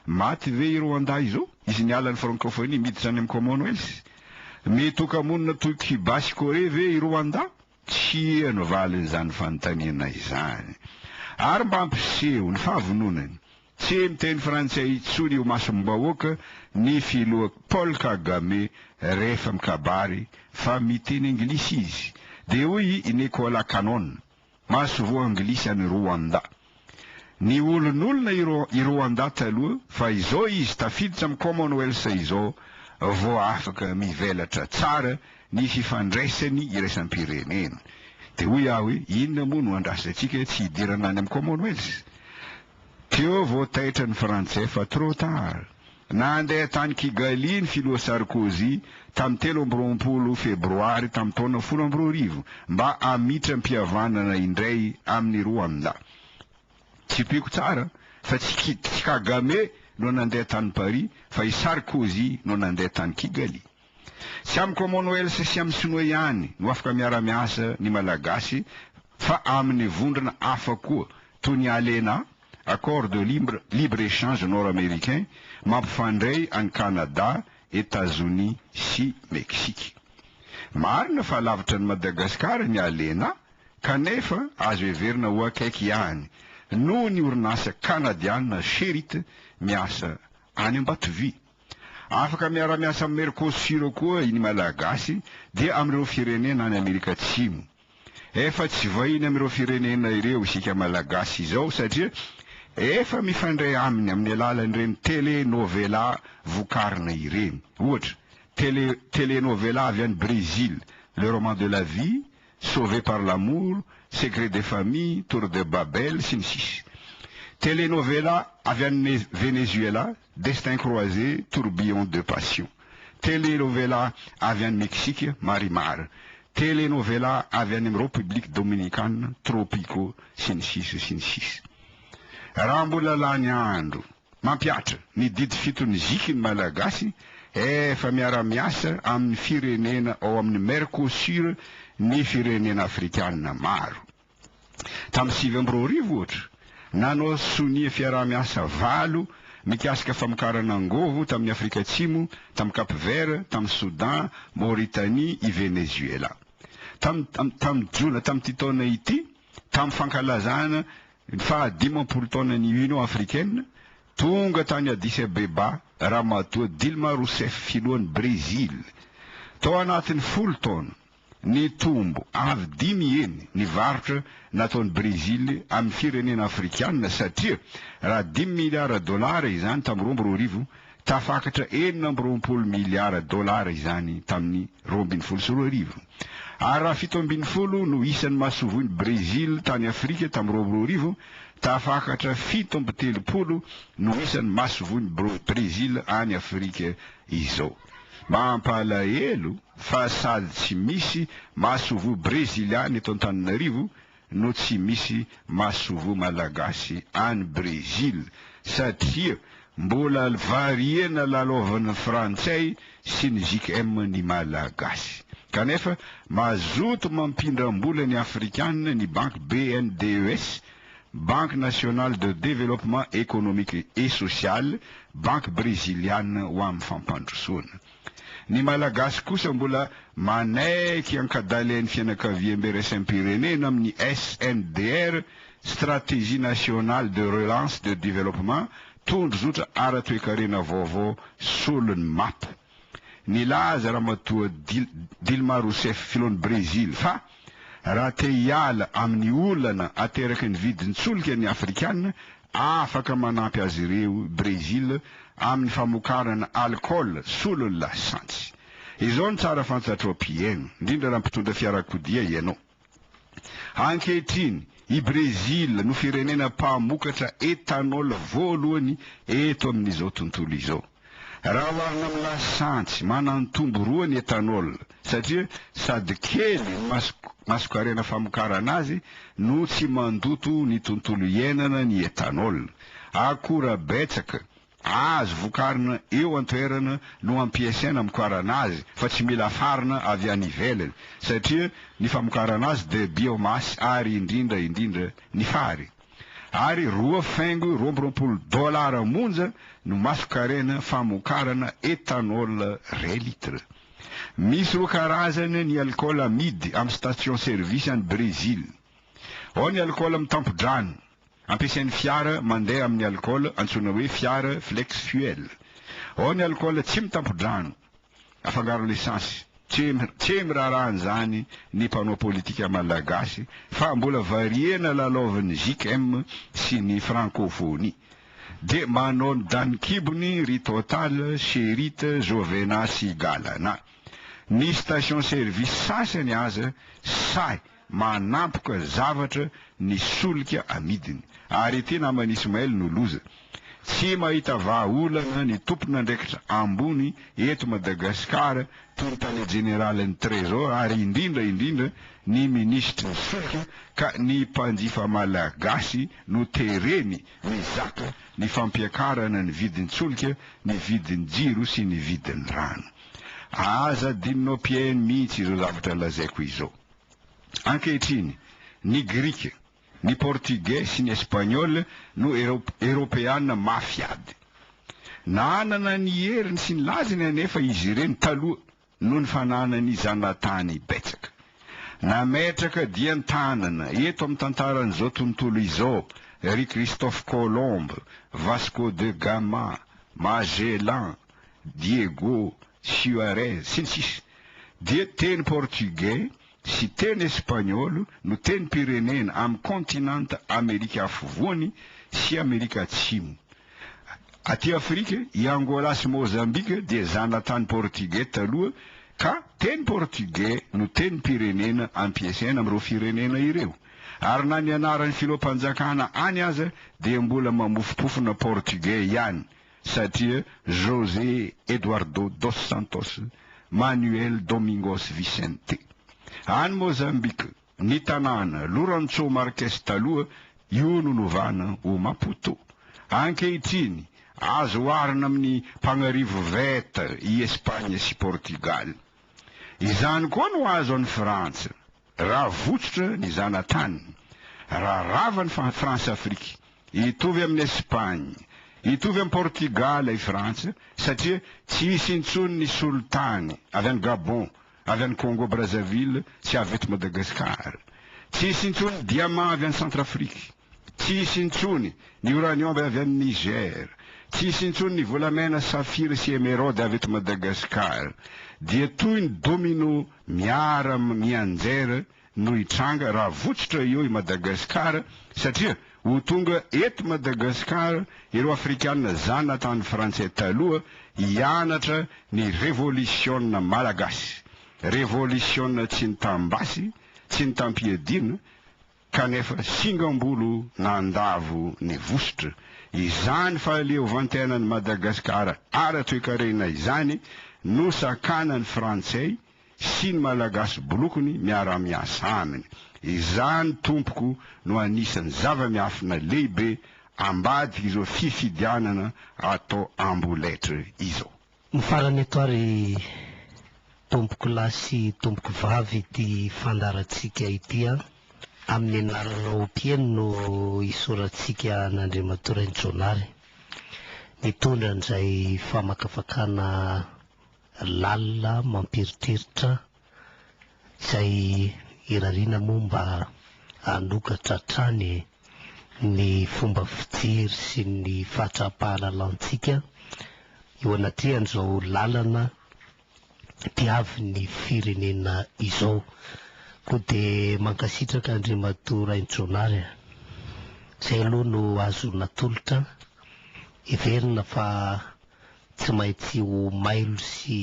Maty ve i Rwanda izao? Izy niala ny Francophonie miditra any amin'ny Commonwealth? Mety ho kamonina toy Cuba sy Corée ve i Rwanda? Tsia no valin'izany fanontaniana izany. Ary mba hampiseho ny fahavononany, tsy miteny frantsay intsony eo imasom-bahoaka ny filoha Paul Kagame rehefa mikabary fa miteny anglisy izy. Dia hoy i Nekola Kanon. Masoivoho anglisy any Rwanda. Niholonolona i Rwanda taloha fa izao izy tafiditra amin'ny Commonwealth izao vao afaka mivelatra tsara ny fifandraisan'ny iraisam-pirenena. Dia hoy aho hoe inona moa no andrasantsika tsy hidirana any amin'ny Commonwealth? Teo vao taitra ny Frantsay fa trop tard. Nandeha tany Kigali ny filoha Sarkozy tamin'ny telo amby roapolo Febroary tamin'ny taona folo amby roa arivo mba hamitram-pihavanana indray amin'ny Rwanda. Tsipiko tsara fa tsy Ki, tsy Kagame no nandeha tany Paris fa i Sarkozy no nandeha tany Kigali. Tsy amin'ny Commonwealth sy amin'ny Sinoa ihany no afaka miara-miasa ny Malagasy fa amin'ny vondrona hafa koa toy ny ALENA, Accord de libre libre échange nord-américain mampifandray an'i Canada, Etazonia sy Meksika. Marina fa lavitra an'i Madagasikara ny Alena kanefa azo heverina ho akaiky ihany noho ny orinasa Kanadiana Sherit miasa any Ambatovy. Afaka miara-miasa amin'ny Mercosur koa ny Malagasy dia amin'ireo firenena any Amerika Atsimo. Efa tsy vahiny amin'ireo firenena ireo isika Malagasy izao satria efa mifandray aminy amin'ny alalan'ireny tele novela vokarina ireny. Ohatra, tele tele novela avy any Brésil, Le roman de la vie, Sauvé par l'amour, Secret de famille, Tour de Babel, sy ny sisa Tele novela avy any Venezuela, Destin croisé, tourbillon de passion. Tele novela avy any Mexique, Marimar. Tele novela avy any amin'ny Ropiblika Dominikana, Tropico, sy ny sisa sy ny sisa. Raha mbola lany andro, mampihatra, ny didy fito ny ziky ny Malagasy, efa miara-miasa amin'ny firenena ao amin'ny Mercosur ny firenena Afrikana maro. Tamin'ny sivy amby roa arivo, ohatra, nanao sonia fiaraha-miasa valo mikasika famokarana angovo tamin'i Afrika Atsimo, tamin'i Cap Vert, tamin'i Soudan, Mauritanie, i Venezuela. Tamin'ny tamin'ny jona tamin'ity taona ity, tamin'ny fankalazana ny faha dimampolo taonan'ny Union africaine, tonga tany Addis Abeba Ramatoa Dilma Rousseff, filohan'i Brezila. Tao anatin'ny folo taona, Nitombo avy dimy heny ny varotra nataon'i Brezily amin'ny firenena afrikanina satria raha dimy miliara dolara izany tamin'ny roa amby roa arivo, tafakatra enina amby roapolo miliara dolara izany tamin'ny roa ambin'ny folo sy roa arivo. Ary raha fito ambin'ny folo no isan'ny masoivohon'i Brezily tany Afrika tamin'ny roa amby roa arivo, tafakatra fito amby telopolo no isan'ny masoivohon'i Brezily any Afrika izao. Mampalahelo fa sady tsy misy masoivoho Breziliana eto Antananarivo no tsy misy masoivoho Malagasy any Brezila satria mbola variana lalaovin'ny Frantsay sy ny JKM ny Malagasy. Kanefa mazoto mampindram-bola ny Afrikana ny banky BNDES Banque Nationale de Développement Économique et Social, Banky Breziliana ho amin'ny Fampandrosoana. Ny Malagasy kosa mbola manaiky ankadalain'ny fianakaviam-beraisam-pirenena amin'ny SNDR, Stratégie Nationale de Relance de Développement, tondrozotra ara-toekarena vaovao solon'ny mapa. Nilaza Ramatoa Dilma Rousseff, filohan'i Brezily, fa raha te hiala amin'ny olana ateraky ny vidin-tsolika ny Afrikana, afaka manampy azy ireo i Brezila amin'ny famokarana alikaola solon'ny lasantsy. Izao no tsara fantatrao mpihaino, indrindra raha mpitondra fiarakodia ianao. Ankehitriny, i Brezila no firenena mpamokatra ethanol voalohany eto amin'izao tontolo izao. Raha oharina amin'ny lasantsy, manantombo roa ny ethanol, satria sady kely ny masonkarena famokarana azy no tsy mandoto ny tontolo iainana ny ethanol. Akora betsaka Azo vokarina eo an-toerana no ampiasaina amokarana azy fa tsy mila afarina avy any ivelany satria ny famokarana azy dia biomasse ary indrindra indrindra ny fary. Ary roa faingo roa amby roapolo dolara monja no masonkarena famokarana ethanol ray litre. Misy roa karazany ny alikaola amidy amin'ny station service any Brésil. Ao ny alikaola mitampo-drano. Ampiasain'ny fiara mandeha amin'ny alikaola antsoina hoe fiara flex fuel. Ao ny alikaola tsy mitampo-drano, afangaron'ny esansy. Tsy miraharaha an'izany ny mpanao politika malagasy fa mbola variana lalaovin'ny JKM sy ny frankofonia. Dia manao ny danin-kibony ry Total, Cherit, Jovena sy Galana. Ny station service sasany aza sahy Manampoka zavatra ny solika amidiny. Ary ity naman'i Ismael no loza. Tsy mahita vaha olana ny tompon'andraikitra ambony eto Madagascar toy ny tale jeneralin'ny Trésor ary indrindra indrindra ny minisitry ny solika ka ny mpanjifa malagasy no tereny mizaka ny fampiakarana ny vidin-tsolika, ny vidin'ny jiro sy ny vidin'ny rano. Aza adinonao PN mihitsy izao zavatra lazaiko izao. Ankehitriny, ny Grika, ny Portugais sy ny Espagnol no Eropeana mafy ady. Nanana ny heriny sy ny lazany anefa izy ireny taloha noho ny fananany zanatany betsaka. Nametraka dian-tanana eto amin'ny tantaran'izao tontolo izao ry Christophe Colomb, Vasco de Gama, Magellan, Diego Suarez, sy ny sisa Dia teny portugais sy teny espaniola no tenim-pirenena amin'ny kontinanta Amerika Afovoany sy Amerika Atsimo. Aty Afrika, i Angola sy Mozambika dia zanatany portugais taloha ka teny portugais no tenim-pirenena ampiasaina amin'ireo firenena ireo. Ary na ny anaran'ny filoham-panjakana any aza dia mbola mamofompofona portugais ihany. satria José Eduardo dos Santos Manuel Domingos Vicente. Any Mozambika, ny tanàna Lourenço Marques taloha, io no novana ho Maputo. Ankehitriny, azo oharina amin'ny mpagnarivo Veta i Espagne sy Portugal. Izany koa no azo an'i Frantsa. Raha votsotra ny zanatany, raha rava ny Frantsa-Afrika, hitovy amin'i Espagne, hitovy amin'i Portugal i Frantsa satria tsy hisy intsony ny solitany avy any Gabon, avy any Congo Brazzaville sy avy eto Madagasikara. Tsy hisy intsony ny diamant avy any Centrafrique. Tsy hisy intsony ny uranium avy any Niger, tsy hisy intsony ny volamena, safira sy emeraude avy eto Madagascar. Dia toy ny domino miara mianjera no hitranga raha votsotra eo i Madagascar satria ho tonga eto Madagascar ireo afrikanina zanatany frantsay taloha hianatra ny revolisiona malagasy, revolisiona tsy nitam-basy, tsy nitam-piadiana, kanefa singam-bolo nandavo ny vositra. Izany fahaleovantenan'i Madagasikara ara-toekarena izany no sakanan'ny Frantsay sy ny Malagasy bolokony miara-miasa aminy. Izany tompoko no anisan'ny zava-miafina lehibe ambadik'izao fifidianana atao amboletra izao. Ny farany eto ary tompoko lahy sy tompoko vavy ity fandaharantsika ity an! amin'ny anaranao mpieno no hisoratsika an'Andriamatoa Rainijaonary mitondra an'izay famakafakana lalina mampieritreritra Izay irariana moa mba hanokatra hatrany ny fomba fijery sy ny fahatraham-pahalalantsika eo anatrehan'izao lalana diavin'ny firenena izao. Koa dia mankasitraka Andriamatoa Rainjonary a. Izay aloha no azo natolotra, heverina fa Tsy maintsy ho mailo sy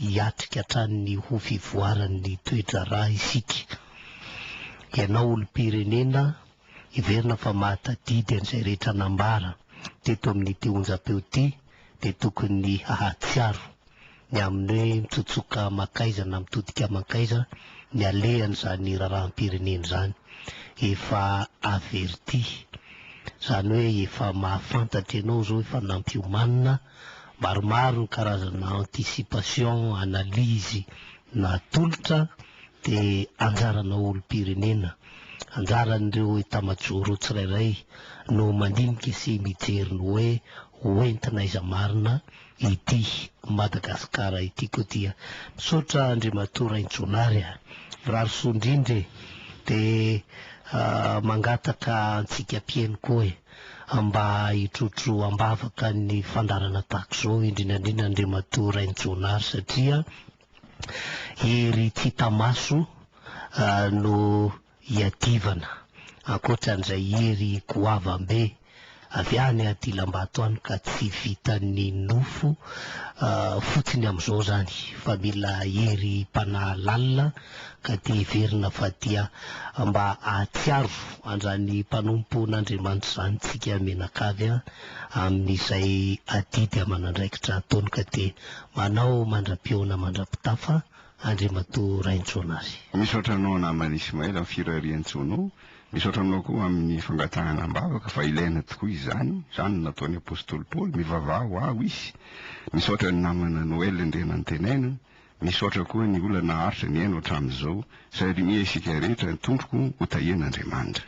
hiatrika hatrany ny ho fivoaran'ny toe-draharaha isika. Ianao olom-pirenena, heverina fa mahatadidy an'izay rehetra nambara teto amin'ity onjampeo ity dia tokony hahatsiaro ny amin'ny hoe mitsotsoka mankaiza na mitodika mankaiza ny alehan'izany raharaham-pirenena izany. Efa averti. Izany hoe efa mahafantatra ianao izao efa nampiomanina maromaro ny karazana anticipation, analyse natolotra dia anjaranao olom-pirenena, anjaran'ireo etamajoro tsirairay no mandinika sy mijery ny hoe ho entina aiza marina ity Madagascar ity ko dia misaotra Andriamatoa Rainjonary a! mirary soa indrindra e! de mangataka antsika mpieno koa e! mba hitrotro ambavaka ny fandaharana tahaka izao indrindra indrindra Andriamatoa Rainjonary satria hery tsy hita maso no hiadivana, ankoatra an'izay hery goavam-be avy any Adilambato any ka tsy vitan'ny nofo fotsiny amin'izao izany fa mila hery mpanahy lalina ka dia heverina fa dia mba hahatsiaro an'izany mpanompon'Andriamanitra izany isika mianakavy a, amin'izay adidy aman'andraikitra ataony ka dia manao mandra-pihaona mandra-pitafa. Andriamatoa Raintsoanary. Misaotra anao namana Ismaël amin'ny firarian-tsaonao. Misaotra anao koa amin'ny fangatahana am-bavaka fa ilaina tokoa izany. Izany no nataon'ny apostoly Paoly, Mivavaha ho ahy hoisy. Misaotra ny namana Noël indray nantenaina. Misaotra koa ny olona naharitra nihaino hatramin'izao. Sahirimiha isika rehetra, Tompoko, hotahian'Andriamanitra.